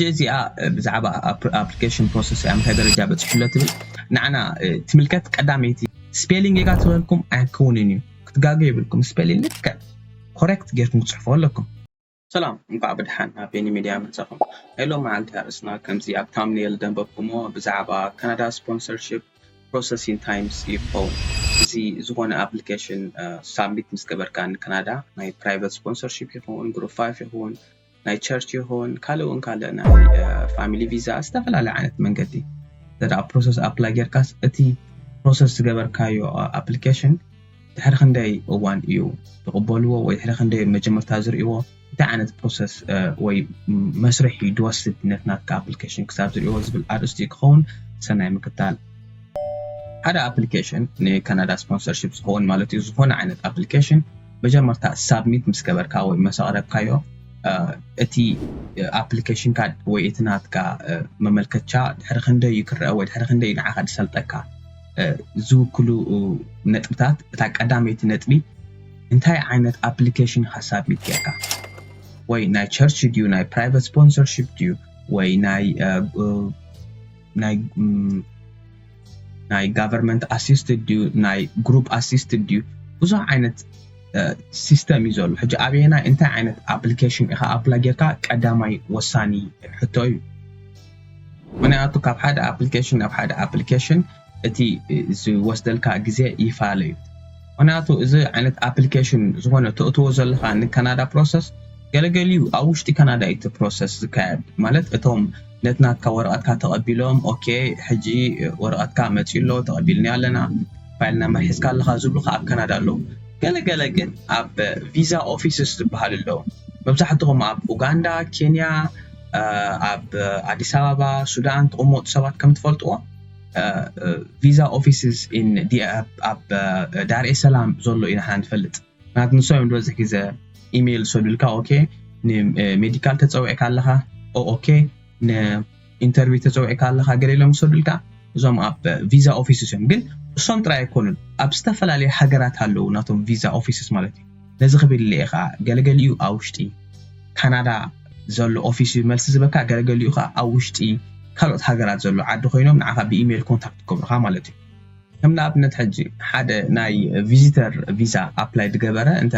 ሕጂ እዚኣ ብዛዕባ ኣፕሊከሽን ፕሮሰስ ኣብ ምንታይ ደረጃ በጺሑ ኣሎ ትብል ንዓና ትምልከት ቀዳመይቲ ስፔሊንግ ጌጋ ትበልኩም ኣይክውንን እዩ ክትጋገ የብልኩም ስፔሊንግ ልክዕ ኮሬክት ጌርኩም ክትጽሕፉ ኣለኩም ሰላም እንቋዕ ብድሓን ናብ ቤኒ ሚድያ መጻኹም ናይ ሎም መዓልቲ ኣርእስትና ከምዚ ኣብ ታምኔል ደንበብኩሞ ብዛዕባ ካናዳ ስፖንሰርሺፕ ፕሮሰስ ኢን ታይምስ እዩ ክኸውን እዚ ዝኾነ ኣፕሊኬሽን ሳብሚት ምስ ገበርካ ንካናዳ ናይ ፕራይቨት ስፖንሰርሺፕ ይኹን ግሩፕ ፋይፍ ይኹን ናይ ቸርች ይኹን ካልእ እውን ካልእ ናይ ፋሚሊ ቪዛ ዝተፈላለየ ዓይነት መንገዲ እንተ ፕሮሰስ ኣፕላይ ጌርካስ እቲ ፕሮሰስ ዝገበርካዮ ኣፕሊኬሽን ድሕሪ ክንደይ እዋን እዩ ዝቕበልዎ ወይ ድሕሪ ክንደይ መጀመርታ ዝርእዎ እንታይ ዓይነት ፕሮሰስ ወይ መስርሕ እዩ ድወስድ ነት ናትካ ኣፕሊኬሽን ክሳብ ዝርእዎ ዝብል ኣርእስቲ እዩ ክኸውን ሰናይ ምክታል ሓደ ኣፕሊኬሽን ንካናዳ ስፖንሰርሽፕ ዝኸውን ማለት እዩ ዝኾነ ዓይነት ኣፕሊኬሽን መጀመርታ ሳብሚት ምስ ገበርካ ወይ መስ ኣቕረብካዮ እቲ ኣፕሊኬሽንካ ወይ እቲ ናትካ መመልከቻ ድሕሪ ክንደይ እዩ ክረኣ ወይ ድሕሪ ክንደይ እዩ ንዓኻ ዝሰልጠካ ዝውክሉ ነጥብታት እታ ቀዳመይቲ ነጥቢ እንታይ ዓይነት ኣፕሊኬሽን ኢኻ ሳብሚት ጌርካ ወይ ናይ ቸርች ድዩ ናይ ፕራይቨት ስፖንሰርሽፕ ድዩ ወይ ናይ ናይ ጋቨርንመንት ኣሲስትድ ድዩ ናይ ግሩፕ ኣሲስትድ ድዩ ብዙሕ ዓይነት ሲስተም እዩ ዘሎ ሕጂ ኣበየናይ እንታይ ዓይነት ኣፕሊኬሽን ኢኻ ኣፕላይ ጌርካ ቀዳማይ ወሳኒ ሕቶ እዩ ምክንያቱ ካብ ሓደ ኣፕሊኬሽን ናብ ሓደ ኣፕሊኬሽን እቲ ዝወስደልካ ግዜ ይፋለ እዩ ምክንያቱ እዚ ዓይነት ኣፕሊኬሽን ዝኾነ ተእትዎ ዘለካ ንካናዳ ፕሮሰስ ገለገሊኡ ኣብ ውሽጢ ካናዳ እዩ እቲ ፕሮሰስ ዝካየድ ማለት እቶም ነቲ ናትካ ወረቐትካ ተቐቢሎም ኦኬ ሕጂ ወረቐትካ መጺኡ ኣሎ ተቐቢልናዮ ኣለና ፋይል ናምበር ሒዝካ ኣለኻ ዝብሉኻ ኣብ ካናዳ ኣለዉ ገለ ገለ ግን ኣብ ቪዛ ኦፊስስ ዝበሃሉ ኣለዉ መብዛሕትኹም ኣብ ኡጋንዳ ኬንያ ኣብ ኣዲስ ኣበባ ሱዳን ትቕመጡ ሰባት ከም ትፈልጥዎ ቪዛ ኦፊስስ ኣብ ዳርኤ ሰላም ዘሎ ኢና ንፈልጥ ናት ንሶም እዮም ዝበዝሕ ግዘ ኢሜይል ዝሰዱልካ ኦኬ ንሜዲካል ተፀዊዕካ ኣለኻ ኦኦኬ ንኢንተርቪው ተፀዊዕካ ኣለኻ ገለ ኢሎም ዝሰዱልካ እዞም ኣብ ቪዛ ኦፊስስ እዮም ግን እሶም ጥራይ ኣይኮኑን ኣብ ዝተፈላለዩ ሃገራት ኣለዉ ናቶም ቪዛ ኦፊስስ ማለት እዩ ነዚ ክብል ኢለ ከዓ ገለገሊኡ ኣብ ውሽጢ ካናዳ ዘሎ ኦፊስ እዩ መልሲ ዝበካ ገለገሊኡ ከዓ ኣብ ውሽጢ ካልኦት ሃገራት ዘሎ ዓዲ ኮይኖም ንዓኻ ብኢሜይል ኮንታክት ክገብሩኻ ማለት እዩ ከም ንኣብነት ሕጂ ሓደ ናይ ቪዚተር ቪዛ ኣፕላይ ዝገበረ እንተ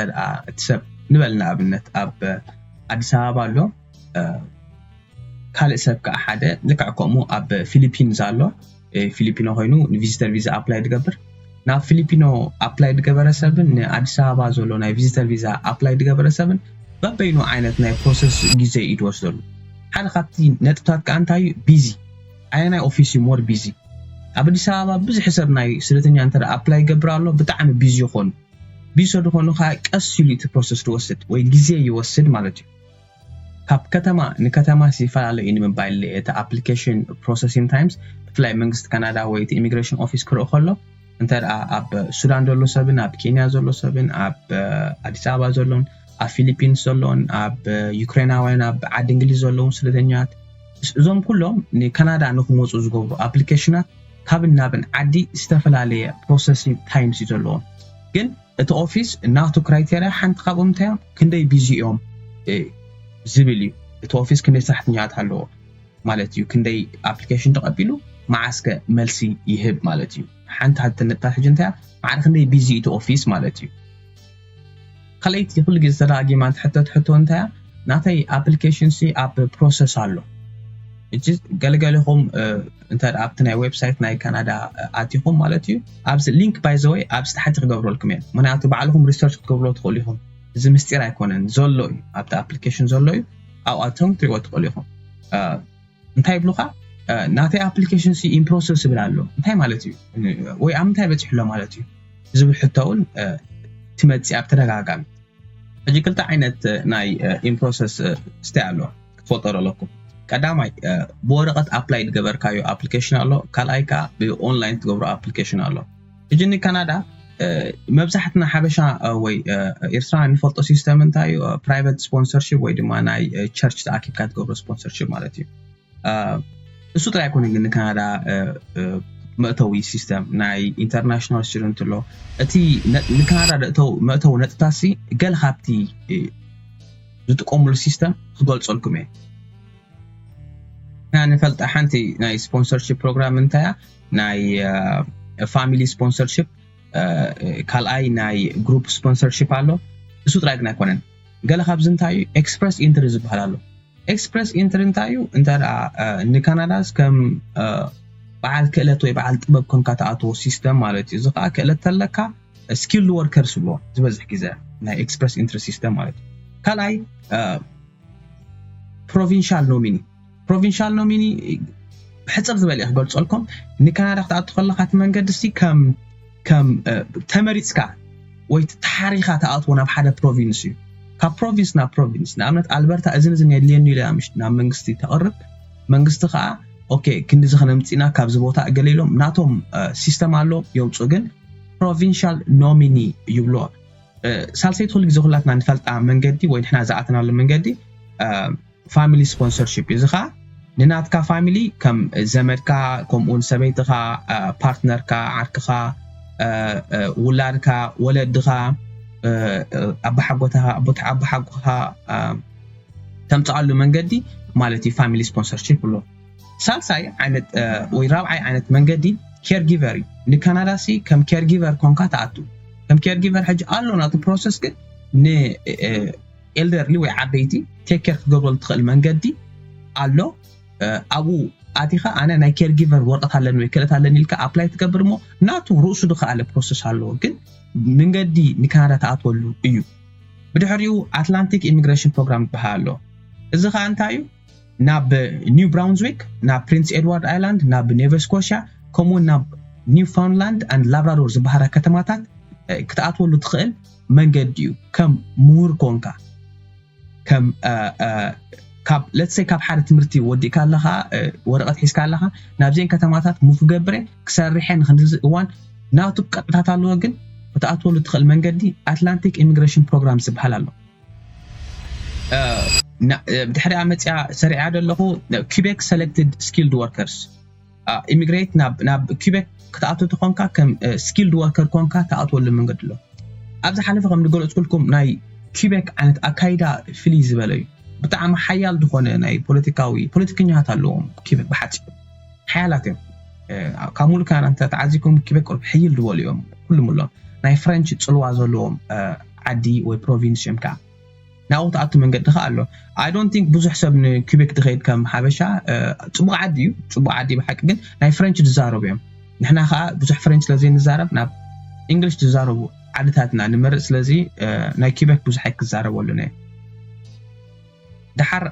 እቲ ሰብ ንበል ንኣብነት ኣብ ኣዲስ ኣበባ ኣሎ ካልእ ሰብ ከዓ ሓደ ልክዕ ከምኡ ኣብ ፊሊፒንስ ኣሎ ፊሊፒኖ ኮይኑ ንቪዚተር ቪዛ ኣፕላይ ዝገብር ናብ ፊሊፒኖ ኣፕላይ ዝገበረ ሰብን ንኣዲስ ኣበባ ዘሎ ናይ ቪዚተር ቪዛ ኣፕላይ ዝገበረ ሰብን በበይኑ ዓይነት ናይ ፕሮሰስ ግዜ እዩ ዝወስደሉ ሓደ ካብቲ ነጥብታት ከዓ እንታይ እዩ ቢዚ ኣየናይ ኦፊስ ዩ ሞር ቢዚ ኣብ ኣዲስ ኣበባ ብዝሕ ሰብ ናይ ስደተኛ እንተ ኣፕላይ ይገብር ኣሎ ብጣዕሚ ቢዚ ይኮኑ ቢዚ ሰድኮኑ ካኣ ቀስ ኢሉ ዩ እቲ ፕሮሰስ ድወስድ ወይ ግዜ ይወስድ ማለት ዩ ካብ ከተማ ንከተማስ ይፈላለ ዩ ንምባይል እቲ ኣፕሊከሽን ፕሮሰሲን ታይምስ ብፍላይ መንግስቲ ካናዳ ወይ እቲ ኢሚግረሽን ኦፊስ ክርእ ከሎ እንተ ኣብ ሱዳን ዘሎ ሰብን ኣብ ኬንያ ዘሎ ሰብን ኣብ ኣዲስ ኣበባ ዘሎን ኣብ ፊሊፒንስ ዘሎን ኣብ ዩክሬናውያን ኣብ ዓዲ እንግሊዝ ዘለውን ስደተኛት እዞም ኩሎም ንካናዳ ንክመፁ ዝገብሩ ኣፕሊኬሽናት ካብን ናብን ዓዲ ዝተፈላለየ ፕሮሰሲን ታይምስ እዩ ዘለዎም ግን እቲ ኦፊስ ናቱ ክራይቴርያ ሓንቲ ካብኦም እንታይ እዮም ክንደይ ቢዚ እዮም ዝብል እዩ እቲ ኦፊስ ክንደይ ሰራሕተኛታት ኣለዎ ማለት እዩ ክንደይ ኣፕሊኬሽን ተቐቢሉ መዓስከ መልሲ ይህብ ማለት እዩ ሓንቲ ሃብቲ ነጥታት ሕጂ እንታይ ማዕረ ክንደይ ቢዚ እቲ ኦፊስ ማለት እዩ ካልኣይቲ ኩሉ ግዜ ተደጋጊማ ትሕተት ሕቶ እንታይ ናተይ ኣፕሊኬሽን ሲ ኣብ ፕሮሰስ ኣሎ እጂ ገለገለኹም እንተ ኣብቲ ናይ ዌብሳይት ናይ ካናዳ ኣቲኹም ማለት እዩ ኣብዚ ሊንክ ባይዘወይ ኣብዚ ታሕቲ ክገብረልኩም እየ ምክንያቱ ባዕልኹም ሪሰርች ክትገብሮ ትኽእሉ ኢኹም እዚ ምስጢር ኣይኮነን ዘሎ እዩ ኣብቲ ኣፕሊኬሽን ዘሎ እዩ ኣብኣቶም ክትሪእዎ ትኽእሉ ኢኹም እንታይ ይብሉኻ ናተይ ኣፕሊኬሽን ሲ ኢንፕሮሰስ ዝብል ኣሎ እንታይ ማለት እዩ ወይ ኣብ ምንታይ በፂሑ ኣሎ ማለት እዩ ዝብል ሕቶ እውን ትመፅእ ኣብ ተደጋጋሚ ሕጂ ክልተ ዓይነት ናይ ኢንፕሮሰስ ስታይ ኣሎ ክትፈልጦ ኣለኩም ቀዳማይ ብወረቐት ኣፕላይ ዝገበርካዮ ኣፕሊኬሽን ኣሎ ካልኣይ ከዓ ብኦንላይን ትገብሮ ኣፕሊኬሽን ኣሎ ሕጂ ንካናዳ መብዛሕትና ሓበሻ ወይ ኤርትራ ንፈልጦ ሲስተም እንታይ እዩ ፕራይቨት ስፖንሰርሺፕ ወይ ድማ ናይ ቸርች ተኣኪብካ ትገብሮ ስፖንሰርሺፕ ማለት እዩ እሱ ጥራይ ኣይኮነ ግን ንካናዳ መእተዊ ሲስተም ናይ ኢንተርናሽናል ስቱደንት ኣሎ እቲ ንካናዳ መእተዊ ነጥታሲ ገለ ካብቲ ዝጥቀሙሉ ሲስተም ክገልፀልኩም እየ ንፈልጣ ሓንቲ ናይ ስፖንሰርሽፕ ፕሮግራም እንታያ ናይ ፋሚሊ ስፖንሰርሽፕ ካልኣይ ናይ ግሩፕ ስፖንሰርሽፕ ኣሎ እሱ ጥራይ ግን ኣይኮነን ገለ ካብዚ እንታይ እዩ ኤክስፕረስ ኢንትሪ ዝበሃል ኣሎ ኤክስፕረስ ኢንትሪ እንታይ እዩ እንተ ንካናዳስ ከም በዓል ክእለት ወይ በዓል ጥበብ ኮንካ ተኣትዎ ሲስተም ማለት እዩ እዚ ከዓ ክእለት ተለካ ስኪልድ ወርከርስ ይብልዎ ዝበዝሕ ግዘ ናይ ኤክስፕረስ ኢንትሪ ሲስተም ማለት እዩ ካልኣይ ፕሮቪንሻል ኖሚኒ ፕሮቪንሻል ኖሚኒ ብሕጽር ዝበለ እየ ክገልጸልኩም ንካናዳ ክትኣቱ ከለካ እቲ መንገዲ ሲ ከም ከም ተመሪጽካ ወይ ተሓሪኻ ተኣትዎ ናብ ሓደ ፕሮቪንስ እዩ ካብ ፕሮቪንስ ናብ ፕሮቪንስ ንኣብነት ኣልበርታ እዝን እዝን የድልየኒ ኢለ ምሽ ናብ መንግስቲ ተቕርብ መንግስቲ ከዓ ኦኬ ክንዲዚ ከነምፅና ካብዚ ቦታ እገለ ኢሎም ናቶም ሲስተም ኣሎ የውፁ ግን ፕሮቪንሻል ኖሚኒ ይብሎ ሳልሰይቲ ኩሉ ግዜ ኩላትና ንፈልጣ መንገዲ ወይ ንሕና ዝኣተናሉ መንገዲ ፋሚሊ ስፖንሰርሺፕ እዩ። እዚ ከኣ ንናትካ ፋሚሊ ከም ዘመድካ ከምኡውን ሰበይትኻ፣ ፓርትነርካ፣ ዓርክኻ፣ ውላድካ፣ ወለድኻ፣ ኣባሓጎታኻ፣ ኣቦሓጎኻ ተምጽኣሉ መንገዲ ማለት እዩ ፋሚሊ ስፖንሰርሺፕ ብሎ። ሳልሳይ ዓይነት ወይ ራብዓይ ዓይነት መንገዲ ኬርጊቨር እዩ። ንካናዳ ሲ ከም ኬርጊቨር ኮንካ ትኣቱ ከም ኬርጊቨር ሕጂ ኣሎ ናቱ ፕሮሰስ ግን ን ኤልደርሊ ወይ ዓበይቲ ቴክ ኬር ክትገብረሉ ትኽእል መንገዲ ኣሎ ኣብኡ ኣቲኻ ኣነ ናይ ኬር ጊቨር ወረቐት ኣለኒ ወይ ክእለት ኣለኒ ኢልካ ኣፕላይ ትገብር እሞ ናቱ ርእሱ ዝኸኣለ ፕሮሰስ ኣለዎ ግን መንገዲ ንካናዳ ትኣትወሉ እዩ ብድሕሪኡ ኣትላንቲክ ኢሚግሬሽን ፕሮግራም ዝበሃል ኣሎ እዚ ከዓ እንታይ እዩ ናብ ኒው ብራውንዝዊክ ናብ ፕሪንስ ኤድዋርድ ኣይላንድ ናብ ኔቨ ስኮሽያ ከምኡውን ናብ ኒውፋውንላንድ ኣንድ ላብራዶር ዝበሃላ ከተማታት ክትኣትወሉ ትኽእል መንገዲ እዩ ከም ሙሁር ኮንካ ከም ካብ let's say ካብ ሓደ ትምህርቲ ወዲእካ ኣለኻ ወረቐት ሒዝካ ኣለኻ ናብዘን ከተማታት ሙፍ ገብረ ክሰርሐ ንክንድዚ እዋን ናቱ ቅጥዕታት ኣለዎ ግን ክትኣትወሉ ትኽእል መንገዲ ኣትላንቲክ ኢሚግሬሽን ፕሮግራም ዝበሃል ኣሎ ድሕሪኣ መፅኣ ሰሪዓ ደለኹ ኪቤክ ሰለክትድ ስኪልድ ወርከርስ ኢሚግሬት ናብ ኪቤክ ክትኣቱ ተኾንካ ከም ስኪልድ ወርከር ኮንካ ትኣትወሉ መንገዲ ኣሎ ኣብ ዝሓለፈ ከም ዝገለፅኩልኩም ናይ ኪቤክ ዓይነት ኣካይዳ ፍልይ ዝበለ እዩ ብጣዕሚ ሓያል ዝኾነ ናይ ፖለቲካዊ ፖለቲከኛታት ኣለዎም ኪቤክ ብሓፂ ሓያላት እዮም ካብ ሙሉእ ካናዳ እንተ ተዓዚኩም ኪቤክ ቁርብ ሕይል ዝበሉ እዮም ኩሉም ኣሎም ናይ ፍረንች ፅልዋ ዘለዎም ዓዲ ወይ ፕሮቪንስ እዮም ከዓ ናብኡ ትኣቱ መንገዲ ከኣ ኣሎ ኣይ ዶንት ቲንክ ብዙሕ ሰብ ንኩቤክ ድኸይድ ከም ሓበሻ ጽቡቕ ዓዲ እዩ ጽቡቕ ዓዲ ብሓቂ ግን ናይ ፍረንች ዝዛረቡ እዮም ንሕና ከኣ ብዙሕ ፍረንች ስለ ዘይንዛረብ ናብ እንግሊሽ ዝዛረቡ ዓድታትና ንመርጽ ስለዚ ናይ ኩቤክ ብዙሕ ኣይክዛረብ ኣለነ እዩ ድሓር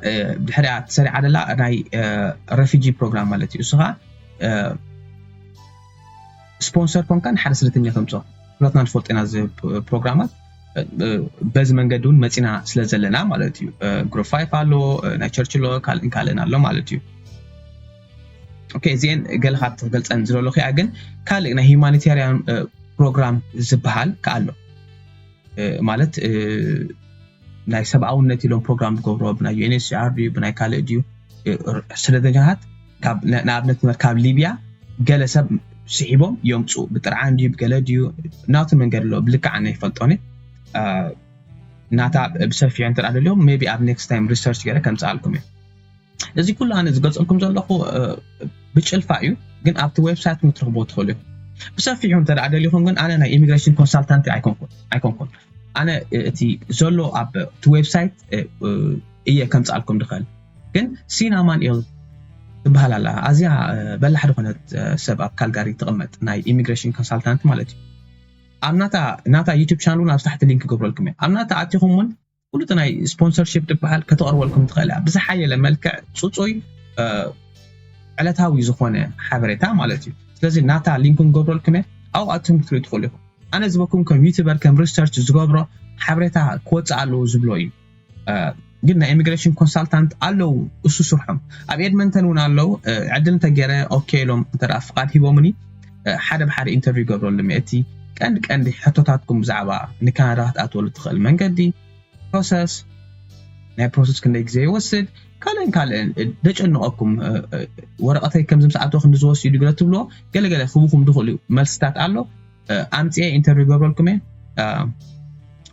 ድሕሪኣ ተሰሪዓ ደላ ናይ ረፊጂ ፕሮግራም ማለት እዩ እሱ ከኣ ስፖንሰር ኮንካ ንሓደ ስደተኛ ተምጾ ኩላትና ንፈልጦ ኢና እዚ ፕሮግራማት በዚ መንገዲ እውን መፂና ስለ ዘለና ማለት እዩ ግሩፕ ፋይፍ ኣሎ ናይ ቸርች ኣሎ ካልእን ካልእን ኣሎ ማለት እዩ ኦኬ እዚአን ገለ ካብ ትገልፀን ዝለለኹ እያ ግን ካልእ ናይ ሂማኒታርያን ፕሮግራም ዝበሃል ከዓ ኣሎ ማለት ናይ ሰብኣውነት ኢሎም ፕሮግራም ዝገብሮ ብናይ ዩኤንኤችሲኣር ድዩ ብናይ ካልእ ድዩ ስደተኛታት ንኣብነት ትምህር ካብ ሊብያ ገለ ሰብ ስሒቦም የምፁ ብጥርዓን ድዩ ብገለ ድዩ ናቱ መንገድ ኣለዎ ብልክዕ ኣነ ይፈልጦኒ ናታ ብሰፊሑ እንተ ደልዮም ቢ ኣብ ኔክስት ታይም ሪሰርች ገለ ከምፅኣልኩም እዩ እዚ ኩሉ ኣነ ዝገልፀልኩም ዘለኹ ብጭልፋ እዩ ግን ኣብቲ ዌብሳይት ክትረኽቦ ትኽእሉ እዩ ብሰፊሑ እንተ ደሊኹም ግን ኣነ ናይ ኢሚግሬሽን ኮንሳልታንቲ ኣይኮንኩን ኣነ እቲ ዘሎ ኣብቲ ዌብሳይት እየ ከምፅኣልኩም ድኽእል ግን ሲን ኣማንኤል ትበሃል ኣላ ኣዝያ በላሕ ዝኾነት ሰብ ኣብ ካልጋሪ ትቕመጥ ናይ ኢሚግሬሽን ኮንሳልታንት ማለት እዩ ኣብ ናታ ናታ ዩቱብ ቻናል እውን ኣብ ታሕቲ ሊንክ ክገብረልኩም እየ ኣብ ናታ ኣቲኹም እውን ፍሉጥ ናይ ስፖንሰርሽፕ ትበሃል ከተቕርበልኩም ትኽእል እያ ብዝሓየለ መልክዕ ፅፁይ ዕለታዊ ዝኾነ ሓበሬታ ማለት እዩ ስለዚ ናታ ሊንክ ንገብረልኩም እየ ኣብኡ ኣትም ክትሪኡ ትኽእሉ ኢኹም ኣነ ዝበኩም ከም ዩቱበር ከም ሪሰርች ዝገብሮ ሓበሬታ ክወፅእ ኣለዎ ዝብሎ እዩ ግን ናይ ኢሚግሬሽን ኮንሳልታንት ኣለው እሱ ስርሖም ኣብ ኤድመንተን እውን ኣለው ዕድል እንተገይረ ኦኬ ኢሎም እንተ ፍቃድ ሂቦምኒ ሓደ ብሓደ ኢንተርቪው ገብረሉ እቲ ቀንዲ ቀንዲ ሕቶታትኩም ብዛዕባ ንካናዳ ክትኣትወሉ ትኽእል መንገዲ ፕሮሰስ ናይ ፕሮሰስ ክንደይ ግዜ ይወስድ ካልእን ካልእን ደጨንቐኩም ወረቐተይ ከምዚ ምስ ኣቶ ክንዲ ዝወስድ ገለ ትብሎ ገለገለ ክቡኹም ዝኽእሉ መልስታት ኣሎ ኣምፅኤ ኢንተርቪው ገብረልኩም እየ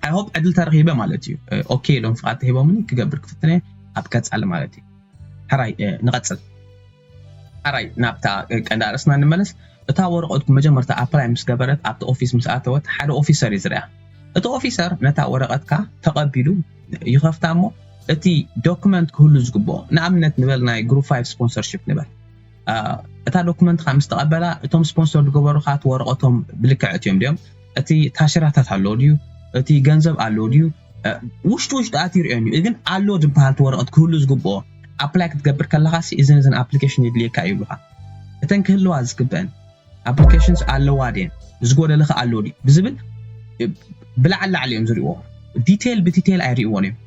ኣይ ሆፕ ዕድል ተረኺበ ማለት እዩ ኦኬ ኢሎም ፍቓድ ተሂቦምኒ ክገብር ክፍትነ ኣብ ቀፃሊ ማለት እዩ ሕራይ ንቐፅል ሕራይ ናብታ ቀንዲ ኣርእስና ንመለስ እታ ወረቐትኩ መጀመርታ ኣፕላይ ምስ ገበረት ኣብቲ ኦፊስ ምስ ኣተወት ሓደ ኦፊሰር እዩ ዝርያ እቲ ኦፊሰር ነታ ወረቐትካ ተቐቢሉ ይኸፍታ እሞ እቲ ዶክመንት ክህሉ ዝግብኦ ንኣብነት ንበል ናይ ግሩፕ ፋይቭ ስፖንሰርሽፕ ንበል እታ ዶኩመንትካ ምስ ተቐበላ እቶም ስፖንሰር ዝገበሩኻ እቲ ወረቐቶም ብልክዕ እትዮም ድዮም እቲ ታሽራታት ኣለዎ ድዩ እቲ ገንዘብ ኣለዎ ድዩ ውሽጡ ውሽጡ ኣትዩ ርኦን እዩ ግን ኣሎ ዝበሃል እቲ ወረቐት ክህሉ ዝግብኦ ኣፕላይ ክትገብር ከለኻ ሲ እዝን እዝን ኣፕሊኬሽን የድልየካ ይብሉኻ እተን ክህልዋ ዝግበአን ኣፕሊኬሽንስ ኣለዋ ድየን ዝጎደለኸ ኣሎ ድዩ ብዝብል ብላዕሊ ላዕሊ እዮም ዝሪእዎ ዲቴይል ብዲቴይል ኣይሪእዎን እዮም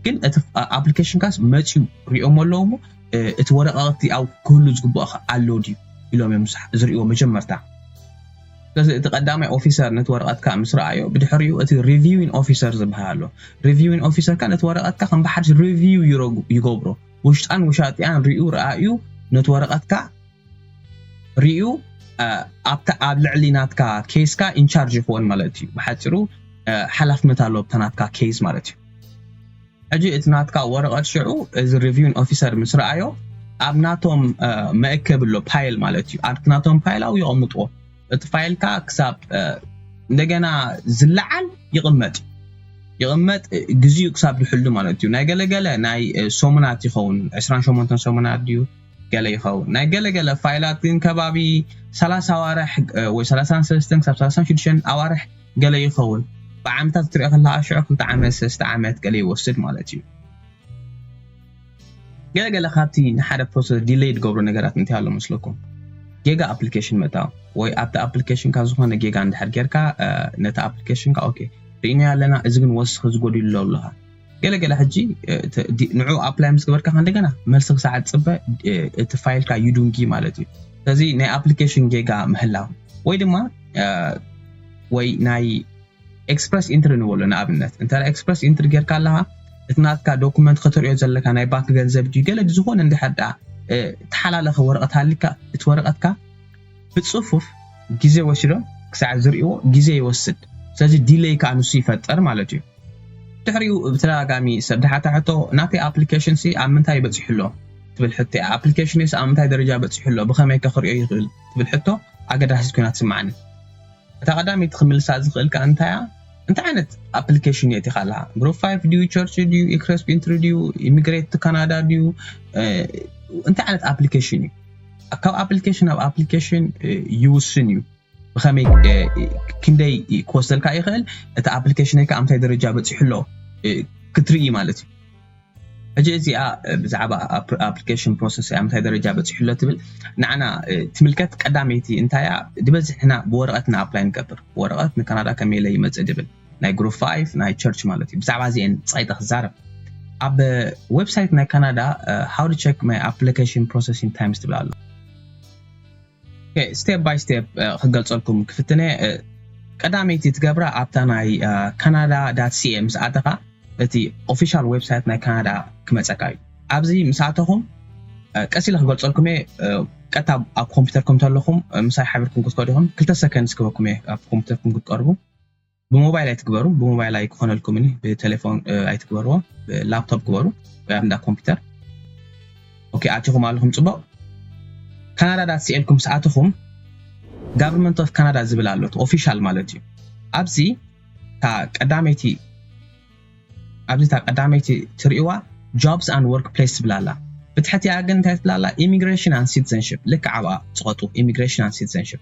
ግን እቲ ኣፕሊኬሽንካስ መፅዩ ሪኦሞ ኣለዎ እሞ እቲ ወረቓቕቲ ኣብ ክህሉ ዝግብኦ ከ ኣሎ ድዩ ኢሎም እዮም ዝርእይዎ መጀመርታ። ስለዚ እቲ ቀዳማይ ኦፊሰር ነቲ ወረቐትካ ምስ ረኣዮ ብድሕሪኡ እቲ ሪቪዊን ኦፊሰር ዝብሃል ኣሎ። ሪቪዊን ኦፊሰር ከ ነቲ ወረቐትካ ከም ብሓድሽ ሪቪው ይገብሮ። ውሽጣን ውሻጢኣን ሪኡ ረኣዩ ነቲ ወረቐትካ ሪኡ ኣብታ ኣብ ልዕሊ ናትካ ኬስካ ኢንቻርጅ ይኸውን ማለት እዩ። ብሓጺሩ ሓላፍነት ኣሎ ኣብታ ናትካ ኬዝ ማለት እዩ። ሕጂ እቲ ናትካ ወረቐት ሽዑ እዚ ሪቪዩን ኦፊሰር ምስ ረኣዮ ኣብ ናቶም መእከቢ ኣሎ ፓይል ማለት እዩ ኣብቲ ናቶም ፓይል ኣብኡ የቐምጥዎ እቲ ፋይልካ ክሳብ እንደገና ዝለዓል ይቕመጥ ይቕመጥ ግዜኡ ክሳብ ዝሕሉ ማለት እዩ ናይ ገለገለ ናይ ሰሙናት ይኸውን 28 ሰሙናት ድዩ ገለ ይኸውን ናይ ገለገለ ፋይላት ግን ከባቢ 30 ኣዋርሕ ወይ 33 ክሳብ 36 ኣዋርሕ ገለ ይኸውን። ብዓመታት ክትሪኦ ከለኻ ሽዑ ክልተ ዓመት ሰለስተ ዓመት ገለ ይወስድ ማለት እዩ። ገለ ገለ ካብቲ ንሓደ ፕሮሰስ ዲለይ ዝገብሮ ነገራት እንታይ ኣሎ መስለኩም? ጌጋ ኣፕሊኬሽን ምእታው ወይ ኣብቲ ኣፕሊኬሽንካ ዝኾነ ጌጋ እንድሕር ጌርካ ነቲ ኣፕሊኬሽንካ ኦኬ ርኢናዮ ኣለና እዚ ግን ወስኺ እዚ ጎዲሉሎ ብልኻ ገለ ገለ ሕጂ ንዑ ኣፕላይ ምስ ገበርካ ከንደገና መልሲ ክሳዕ ትፅበ እቲ ፋይልካ ዩዱንጊ ማለት እዩ ስለዚ ናይ ኣፕሊኬሽን ጌጋ ምህላው ወይ ድማ ወይ ናይ ኤክስፕረስ ኢንትሪ ንበሎ ንኣብነት እንተ ኤክስፕረስ ኢንትሪ ጌርካ ኣለካ እቲ ናትካ ዶኩመንት ከተሪኦ ዘለካ ናይ ባንክ ገንዘብ ድዩ ገለ ዝኾነ እንድሕር ዳ ተሓላለኸ ወረቐት ሃሊካ እቲ ወረቐትካ ብጽፉፍ ግዜ ወሲዶም ክሳዕ ዝርእይዎ ግዜ ይወስድ ስለዚ ዲለይ ከኣ ንሱ ይፈጥር ማለት እዩ ድሕሪኡ ብተደጋጋሚ ሰብ ዝሓታ ሕቶ ናተይ ኣፕሊኬሽን ሲ ኣብ ምንታይ በጺሑ ኣሎ ትብል ሕቶ እያ ኣፕሊኬሽነይስ ኣብ ምንታይ ደረጃ በጺሑ ኣሎ ብኸመይ ከ ክርእዮ ይኽእል ትብል ሕቶ ኣገዳሲት ኮይና ትስምዓኒ እታ ቀዳመይቲ ክምልሳ ዝኽእል ከኣ እንታይ እያ እንታይ ዓይነት ኣፕሊኬሽን እየ እቲኻ ኣለኻ ግሩፕ ፋይቭ ድዩ ቸርች ድዩ ኢክረስፕ ኢንትሪ ድዩ ኢሚግሬት ካናዳ ድዩ እንታይ ዓይነት ኣፕሊኬሽን እዩ ካብ ኣፕሊኬሽን ናብ ኣፕሊኬሽን ይውስን እዩ ብከመይ ክንደይ ክወስደልካ ይኽእል እቲ ኣፕሊኬሽን ከዓ እንታይ ደረጃ በፂሑ ኣሎ ክትርኢ ማለት እዩ ሕጂ እዚኣ ብዛዕባ ኣፕሊኬሽን ፕሮሰስ እያ ምንታይ ደረጃ በፂሑ ኣሎ ትብል ንዓና ትምልከት ቀዳመይቲ እንታይ እያ ዝበዝሕ ሕና ብወረቐት ንኣፕላይ ንገብር ብወረቐት ንካናዳ ከመይ ኢለ ይመፅእ ድብል ናይ ግሩፕ ፋይፍ ናይ ቸርች ማለት እዩ ብዛዕባ እዚኤን ጸቂጠ ክዛረብ ኣብ ዌብሳይት ናይ ካናዳ ሃው ዱ ቸክ ማይ ኣፕሊኬሽን ፕሮሰሲን ታይምስ ትብል ኣሎ ስቴፕ ባይ ስቴፕ ክገልጸልኩም ክፍትነ ቀዳመይቲ ትገብራ ኣብታ ናይ ካናዳ ዳት ሲኤ ምስ ኣተኻ እቲ ኦፊሻል ዌብሳይት ናይ ካናዳ ክመፀካ እዩ ኣብዚ ምስ ኣተኹም ቀስ ኢለ ክገልፀልኩም እየ ቀጥታ ኣብ ኮምፒውተርኩም ተለኹም ምሳይ ሓቢርኩም ክትከዱ ኢኹም ክልተ ሰከንድ ስክበኩም እየ ኣብ ኮምፒውተርኩም ክትቀርቡ ብሞባይል ኣይትግበሩ ብሞባይል ኣይክኾነልኩም ኒ ብቴሌፎን ኣይትግበርዎ ብላፕቶፕ ግበሩ ወይ ኣብ እንዳ ኮምፒውተር ኦኬ ኣቲኹም ኣለኹም ፅቡቕ ካናዳ ዳ ስኤልኩም ምስ ኣትኹም ጋቨርንመንት ኦፍ ካናዳ ዝብል ኣሎት ኦፊሻል ማለት እዩ ኣብዚ እታ ቀዳመይቲ ኣብዚ እታ ቀዳመይቲ ትርእዋ ጆብስ ኣንድ ወርክ ፕሌስ ትብል ኣላ ብትሕቲኣ ግን እንታይ ትብል ኣላ ኢሚግሬሽን ኣንድ ሲቲዘንሽፕ ልክዕ ኣብኣ ፅቐጡ ኢሚግሬሽን ኣንድ ሲቲዘንሽፕ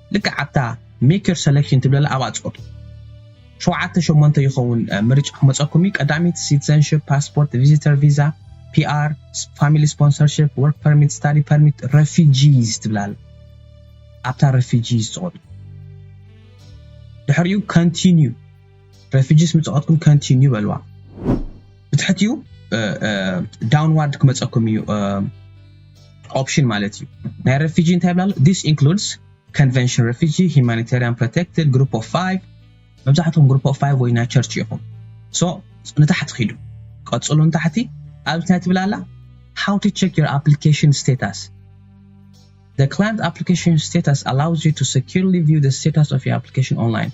ልክዕ ኣብታ Make your selection ትብለላ ኣብኣ ጽቀጡ። ሸውዓተ ሸሞንተ ይኸውን ምርጫ ክመጸኩም እዩ፣ ቀዳሚት ሲትዘንሽፕ፣ ፓስፖርት፣ ቪዚተር ቪዛ፣ PR፣ ፋሚሊ ስፖንሰርሽፕ፣ ወርክ ፐርሚት፣ ስታዲ ፐርሚት፣ ረፊጂስ ትብል ኣላ። ኣብታ ረፊጂስ ጽቀጡ። ድሕሪኡ Continue። ረፊጂስ ምጽኦትኩም ከንቲንዩ በልዋ ብትሕትኡ ዳውንዋርድ ክመጸኩም እዩ ኦፕሽን ማለት እዩ ናይ ረፊጂ እንታይ ይብላ ኣሎ ዲስ ኢንክሉድስ ኮንቨንሽን ረፊጂ ሂማኒታሪያን ፕሮቴክትድ ግሩፕ ኦፍ ፋይቭ መብዛሕትኩም ግሩፕ ኦፍ ፋይቭ ወይ ናይ ቸርች ኢኹም ሶ ንታሕቲ ኪዱ ቀጽሉ ንታሕቲ ኣብ እንታይ ትብላ ኣላ ሃው ቱ ቸክ ዮር ኣፕሊኬሽን ስቴታስ The Client Application Status allows you to securely view the status of your application online.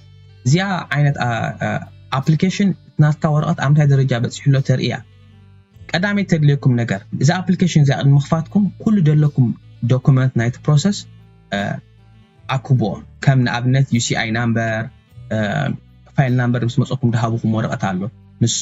እዚኣ ዓይነት ኣፕሊኬሽን ናትካ ወረቐት ኣብ ምንታይ ደረጃ በፂሑሎ ተርኢ እያ። ቀዳመይቲ ተድልየኩም ነገር እዛ ኣፕሊኬሽን እዚኣ ቅድሚ ምኽፋትኩም ኩሉ ዘለኩም ዶኩመንት ናይቲ ፕሮሰስ ኣክብዎ። ከም ንኣብነት UCI ናምበር ፋይል ናምበር ምስ መፀኩም ድሃብኹም ወረቐት ኣሎ ንሱ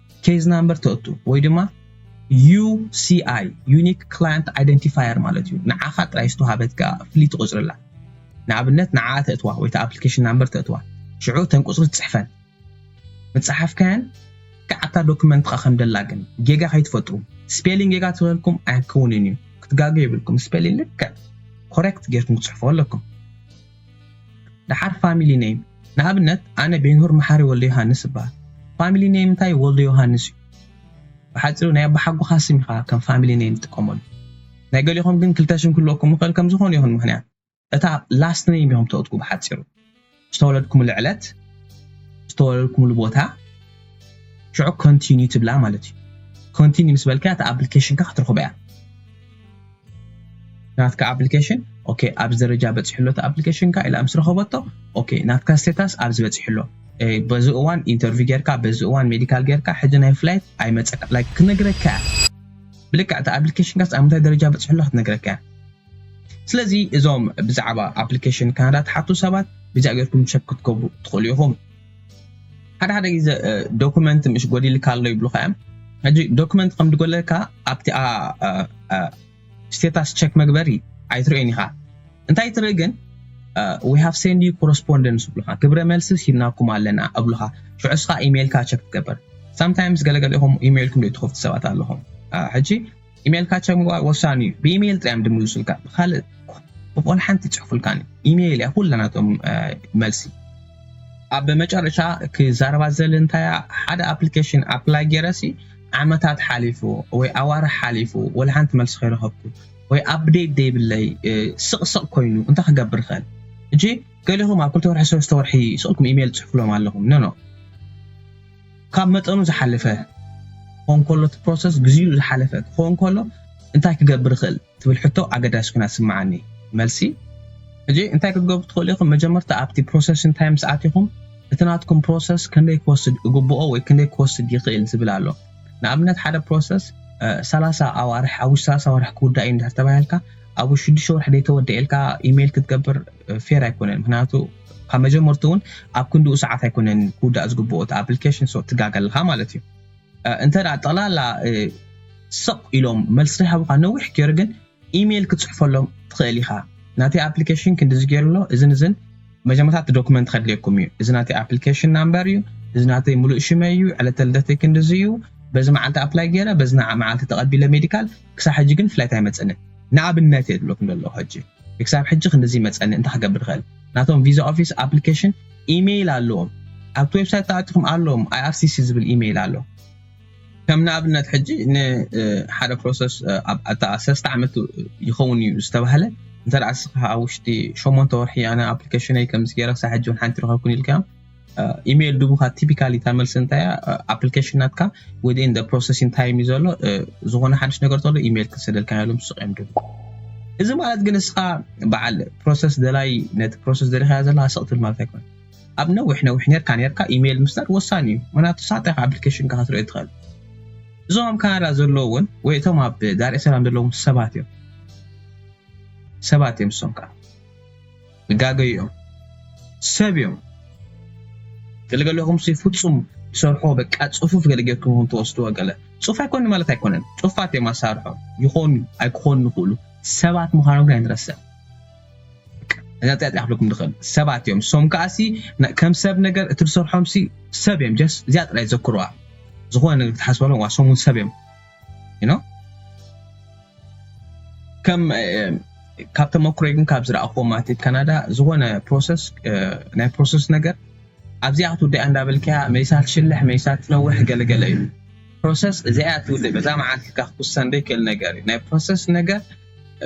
ኬዝ ናምበር ተእቱ ወይ ድማ UCI፣ Unique Client Identifier፣ ማለት እዩ። ንዓኻ ጥራይ ዝተዋህበት ከኣ ፍልይቲ ቁጽሪ ኣላ። ንኣብነት ንዓኣ ተእትዋ ወይ እታ ኣፕሊኬሽን ናምበር ተእትዋ። ሽዑ እተን ቁጽሪ ትጽሕፈን። ምጸሓፍካየን ልክዕ ኣብታ ዶክመንትኻ ከም ደላ ግን ጌጋ ከይትፈጥሩ። ስፔሊን ጌጋ ተበልኩም ኣይክውንን እዩ። ክትጋገዩ የብልኩም ስፔሊን ልክዕ፣ Correct፣ ጌርኩም ክትጽሕፍዎ ኣለኩም። ደሓር ፋሚሊ ነይም ንኣብነት ኣነ ቤንሁር መሓሪ ወልደዮሃንስ እበሃል ፋሚሊ ነይም እንታይ ወልደዮሃንስ እዩ ብሓጺሩ ናይ ኣቦሓጎኻ ስም ኢኻ ከም ፋሚሊ ነይም ትጥቀመሉ ናይ ገሊኹም ግን ክልተ ሽም ክህልወኩም ይኽእል ከም ዝኾነ ይኹን ምኽንያት እታ ላስት ነይም ኢኹም ተእትዉ ብሓጺሩ ዝተወለድኩምሉ ዕለት ዝተወለድኩምሉ ቦታ ሽዑ ኮንቲኒ ትብላ ማለት እዩ ኮንቲኒ ምስ በልካያ እቲ ኣፕሊኬሽንካ ክትረኽቦ እያ ናትካ ኣፕሊኬሽን ኦኬ ኣብዚ ደረጃ በፂሑ ኣሎ እቲ ኣፕሊኬሽንካ ኢላ ምስ ረኸበቶ ኦኬ ናትካ ስቴታስ ኣብዚ በፂሑ ኣሎ በዚ እዋን ኢንተርቪው ጌርካ በዚ እዋን ሜዲካል ጌርካ ሕጂ ናይ ፍላይት ኣይመፀካ ላይ ክነግረካ እያ ብልክዕ እቲ ኣፕሊኬሽንካስ ኣብ ምንታይ ደረጃ በፂሑ ኣሎ ክትነግረካ እያ ስለዚ እዞም ብዛዕባ ኣፕሊኬሽን ካናዳ ትሓቱ ሰባት ብዚኣ ጌርኩም ቸክ ክትገብሩ ትኽእሉ ኢኹም ሓደ ሓደ ግዜ ዶክመንት ምሽ ጎዲልካ ኣሎ ይብሉካ እዮም ሕጂ ዶክመንት ከም ድጎለካ ኣብቲ ስቴታስ ቸክ መግበሪ ኣይትርእዮን ኢኻ እንታይ ትርኢ ግን ዊ ሃቭ ሴንድ ዩ ኮረስፖንደንስ ይብሉካ ግብረ መልሲ ሂብናኩም ኣለና እብሉኻ ሽዑ እስኻ ኢሜይልካ ቸክ ትገበር ሳምታይምስ ገለገለ ኢኹም ኢሜይልኩም ዘይትኸፍቱ ሰባት ኣለኹም ሕጂ ኢሜልካ ቸክ ምግባር ወሳኒ እዩ ብኢሜል ጥራይ እዮም ድምልሱልካ ብካልእ ብቆል ሓንቲ ይጽሕፉልካን እዩ ኢሜል እያ ኩላ ናቶም መልሲ። ኣብ መጨረሻ ክዛረባ ዝደሊ እንታይ እያ ሓደ ኣፕሊኬሽን ኣፕላይ ጌረሲ ዓመታት ሓሊፉ ወይ ኣዋርሕ ሓሊፉ ወላ ሓንቲ መልሲ ከይረኸብኩ ወይ ኣፕዴት ደይብለይ ስቕ ስቕ ኮይኑ እንታይ ክገብር ይኽእል እጂ ገሊኹም ኣብ ክልተ ወርሒ ሰለስተ ወርሒ ስቕልኩም ኢሜል ትጽሕፍሎም ኣለኹም ኖ ኖ ካብ መጠኑ ዝሓለፈ ክኸውን ከሎ እቲ ፕሮሰስ ግዚኡ ዝሓለፈ ክኸውን ከሎ እንታይ ክገብር ይኽእል ትብል ሕቶ ኣገዳሲ ኮይና ትስምዓኒ መልሲ ሕጂ እንታይ ክትገብሩ ትኽእሉ ኢኹም መጀመርታ ኣብቲ ፕሮሰስ እንታይ ምስ ኣቲኹም እቲ ናትኩም ፕሮሰስ ከንደይ ክወስድ እግብኦ ወይ ክንደይ ክወስድ ይኽእል ዝብል ኣሎ ንኣብነት ሓደ ፕሮሰስ ሰላሳ ኣዋርሕ ኣብ ውሽጢ ሰላሳ ኣዋርሕ ክውዳእ እዩ እንድሕር ተባሂልካ ኣብ ሽዱሽተ ወርሒ ዘይተወደኤልካ ኢሜይል ክትገብር ፌር ኣይኮነን ምክንያቱ ካብ መጀመርቱ እውን ኣብ ክንድኡ ሰዓት ኣይኮነን ክውዳእ ዝግብኦ እቲ ኣፕሊኬሽን ሶ ትጋገ ኣለኻ ማለት እዩ እንተ ጠቕላላ ስቕ ኢሎም መልሲ ዘይሃቡኻ ነዊሕ ገይሩ ግን ኢሜይል ክትፅሕፈሎም ትኽእል ኢኻ ናተይ ኣፕሊኬሽን ክንድዚ ገይሩ ኣሎ እዝን እዝን መጀመርታ እቲ ዶክመንት ከድልየኩም እዩ እዚ ናተይ ኣፕሊኬሽን ናምበር እዩ እዚ ናተይ ሙሉእ ሽመይ እዩ ዕለተ ልደተይ ክንድዚ እዩ በዚ መዓልቲ ኣፕላይ ገይረ በዚ መዓልቲ ተቐቢለ ሜዲካል ክሳብ ሕጂ ግን ፍላይት ኣይመጸንን ንኣብነት እየ ዝብለኩም ዘለኩ ሕጂ ንክሳብ ሕጂ ክንድዚ ይመጸኒ እንታይ ክገብር ይክእል ናቶም ቪዛ ኦፊስ ኣፕሊከሽን ኢመይል ኣለዎም ኣብቲ ዌብሳይት ተኣቲኩም ኣለዎም IRCC ዝብል ኢመይል ኣሎ ከም ንኣብነት ሕጂ ንሓደ ፕሮሰስ ኣብታ ሰለስተ ዓመት ይኸውን እዩ ዝተባህለ እንተ ንስኻ ኣብ ውሽጢ ሸሞንተ ወርሒ ኣነ ኣፕሊኬሽነይ ከምዚ ገይረ ክሳብ ሕጂ ውን ሓንቲ ረኸብኩን ኢልካዮም ኢሜይል ድቡካ ቲፒካሊ እታ መልሲ እንታይ እያ ኣፕሊኬሽን ናትካ ወዲን ፕሮሰሲን ታይም እዩ ዘሎ ዝኾነ ሓድሽ ነገር ተሎ ኢሜይል ክሰደልካ ያሎም ሱቅ እዮም ድቡ እዚ ማለት ግን እስኻ በዓል ፕሮሰስ ደላይ ነቲ ፕሮሰስ ደሪኻያ ዘለካ ስቕትል ማለት ኣይኮነ ኣብ ነዊሕ ነዊሕ ነርካ ነርካ ኢሜይል ምስዳድ ወሳኒ እዩ ምክንያቱ ሳጣይካ ኣፕሊኬሽንካ ክትርኢ ትኽእል እዞም ኣብ ካናዳ ዘለዎ እውን ወይ እቶም ኣብ ዳርኤ ሰላም ዘለዎም ሰባት እዮም ሰባት እዮም እሶም ከዓ ይጋገዩ እዮም ሰብ እዮም። ገልገለኹምሲ ፍጹም ይሰርሖ በቃ ጽፉፍ ገለ ጌርኩም ኢኹም ትወስድዎ ገለ ጽፉፍ ኣይኮነን ማለት ኣይኮነን ጽፉፋት እዮም ኣሳርሖም ይኾኑ ኣይክኾኑ ይኽእሉ ሰባት ምዃኖም ግን ኣይንረስዕ እዛ ጥያ ጥያ ክብለኩም ድኽእል ሰባት እዮም ሶም ከኣሲ ከም ሰብ ነገር እቲ ዝሰርሖምሲ ሰብ እዮም ጀስ እዚኣ ጥራይ ዘክሩዋ ዝኾነ ነገር ክትሓስበሎም ዋ ሶም እውን ሰብ እዮም you know ከም ካብ ተመክሮይ ግን ካብ ዝረኣኹዎ ማለት ካናዳ ዝኾነ ፕሮሰስ ናይ ፕሮሰስ ነገር ኣብዚኣ ክትውድያ እንዳበልካያ መሊሳ ትሽልሕ መሊሳ ትነውሕ ገለገለ እዩ ፕሮሰስ እዚኣ ትውድእ በዛ መዓልቲ ኢልካ ክትውሰን ዘይክእል ነገር እዩ ናይ ፕሮሰስ ነገር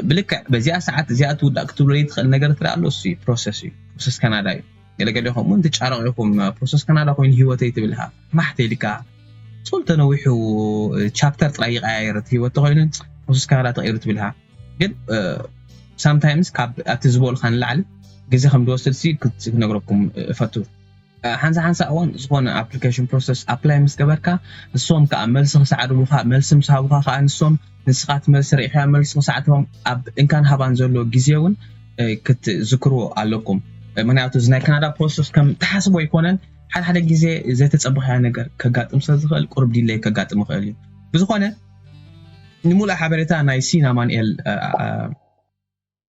ብልክዕ በዚኣ ሰዓት እዚኣ ትውዳእ ክትብሎ ትኽእል ነገር ትረኣ ኣሎ እሱ ፕሮሰስ እዩ ፕሮሰስ ካናዳ እዩ ገለ ገሌኹም ውን ትጫረቑ ኢኹም ፕሮሰስ ካናዳ ኮይኑ ሂወተይ ትብል እኻ ማሕ ተይልካ ጹል ተነዊሑ ቻፕተር ጥራይ ይቀያየር እቲ ሂወት ተኾይኑ ፕሮሰስ ካናዳ ተቐይሩ ትብል እኻ ግን ሳምታይምስ ካብ ኣብቲ ዝበልካ ንላዕሊ ግዜ ከም ዝወስድ ሲ ክትነግረኩም እፈቱ ሓንሳ ሓንሳ እዋን ዝኾነ ኣፕሊኬሽን ፕሮሰስ ኣፕላይ ምስ ገበርካ ንሶም ከዓ መልሲ ክሰዓዱ ምዃ መልሲ ምስ ሃቡኻ ከዓ ንሶም ንስኻ እቲ መልሲ ርኢኻዮ መልሲ ክሳዕ ትህቦም ኣብ እንካን ሃባን ዘሎ ግዜ እውን ክትዝክርዎ ኣለኩም ምክንያቱ እዚ ናይ ካናዳ ፕሮሰስ ከም ትሓስቦ ኣይኮነን ሓደ ሓደ ግዜ ዘይተፀበኻዮ ነገር ከጋጥም ስለ ዝኽእል ቁርብ ዲለይ ከጋጥም ይኽእል እዩ ብዝኾነ ንምሉእ ሓበሬታ ናይ ሲን ኣማንኤል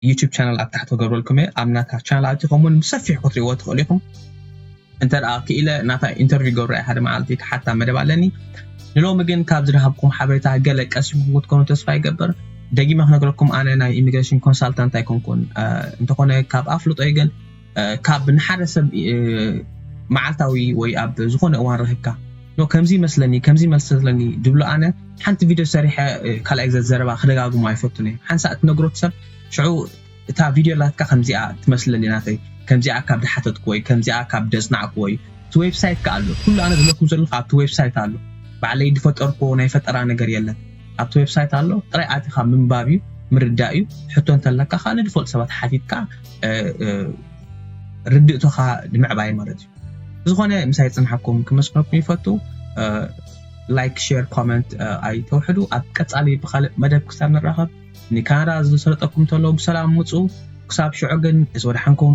ዩቱብ ቻናል ኣብ ታሕቲ ክገብረልኩም እየ ኣብ ናታ ቻናል ኣቲኹም እውን ብሰፊሑ ክትሪእዎ ትኽእሉ ኢኹም እንተ ክኢለ ናታ ኢንተርቪው ገብረ ሓደ መዓልቲ ክሓታ መደብ ኣለኒ ንሎሚ ግን ካብ ዝረሃብኩም ሓበሬታ ገለ ቀሲምኩም ክትኮኑ ተስፋ ይገብር ደጊመ ክነግረኩም ኣነ ናይ ኢሚግሬሽን ኮንሳልታንት ኣይኮንኩን እንተኾነ ካብ ኣፍልጦይ ግን ካብ ንሓደ ሰብ መዓልታዊ ወይ ኣብ ዝኾነ እዋን ረኺብካ ኖ ከምዚ ይመስለኒ ከምዚ ይመስለኒ ድብሎ ኣነ ሓንቲ ቪድዮ ሰሪሐ ካልኣይ ግዜ ዘረባ ክደጋግሞ ኣይፈቱን እየ ሓንሳእ እትነግሮ ሰብ ሽዑ እታ ቪድዮ ላትካ ከምዚኣ ትመስለኒ ናተይ ከምዚኣ ካብ ድሓተትኩ ወይ ከምዚኣ ካብ ደጽናዕኩ ወይ እቲ ዌብሳይት ከ ኣሎ ኩሉ ኣነ ዝለኩም ዘለኹ ኣብቲ ዌብሳይት ኣሎ ባዕለይ ድፈጠርኩ ናይ ፈጠራ ነገር የለን ኣብቲ ዌብሳይት ኣሎ ጥራይ ኣቲኻ ምንባብ እዩ ምርዳእ እዩ ሕቶ እንተለካ ከዓ ንድፈልጡ ሰባት ሓቲትካ ርድእቶኻ ንምዕባይ ማለት እዩ ዝኾነ ምሳይ ፅንሓኩም ክመስክረኩም ይፈቱ ላይክ ሼር ኮመንት ኣይተውሕዱ ኣብ ቀፃሊ ብካልእ መደብ ክሳብ ንራኸብ ንካናዳ ዝሰለጠኩም ተሎ ብሰላም ውፁ ክሳብ ሽዑ ግን እዚ ወድሓንኩም